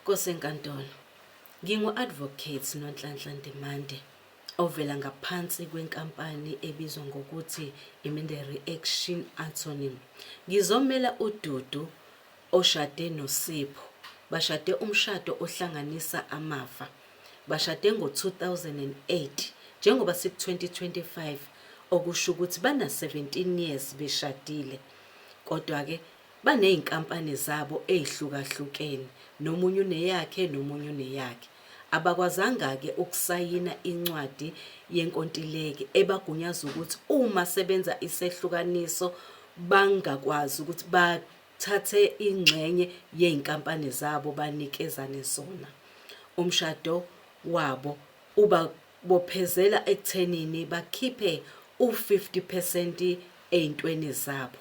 Kosenkantolo, ngingu-Advocate Nonhlanhla Ndimande ovela ngaphansi kwenkampani ebizwa ngokuthi Iminde Reaction Attorney. Ngizomela uDudu oshade noSipho. Bashade umshado ohlanganisa amafa. Bashade ngo-2008 njengoba siku-2025 okusho ukuthi bana-17 years beshadile. Kodwa-ke Baney'nkampani zabo ey'hlukahlukene, nomunye uneyakhe nomunye uneyakhe. Abakwazanga-ke ukusayina incwadi yenkontileki ebagunyaza ukuthi uma sebenza isehlukaniso bangakwazi ukuthi bathathe ingxenye yey'nkampani zabo banikezane zona. Umshado wabo ubabophezela ekuthenini bakhiphe u-50 percent ey'ntweni zabo.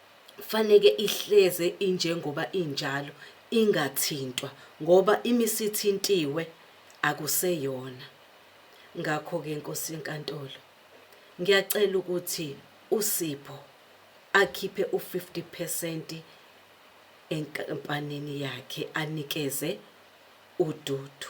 faneke ihleze injengoba injalo ingathintwa ngoba imisithintiwe akuseyona ngakho ke Nkosi yenkantolo ngiyacela ukuthi uSipho akhiphe u50% enkampanini yakhe anikeze uDudu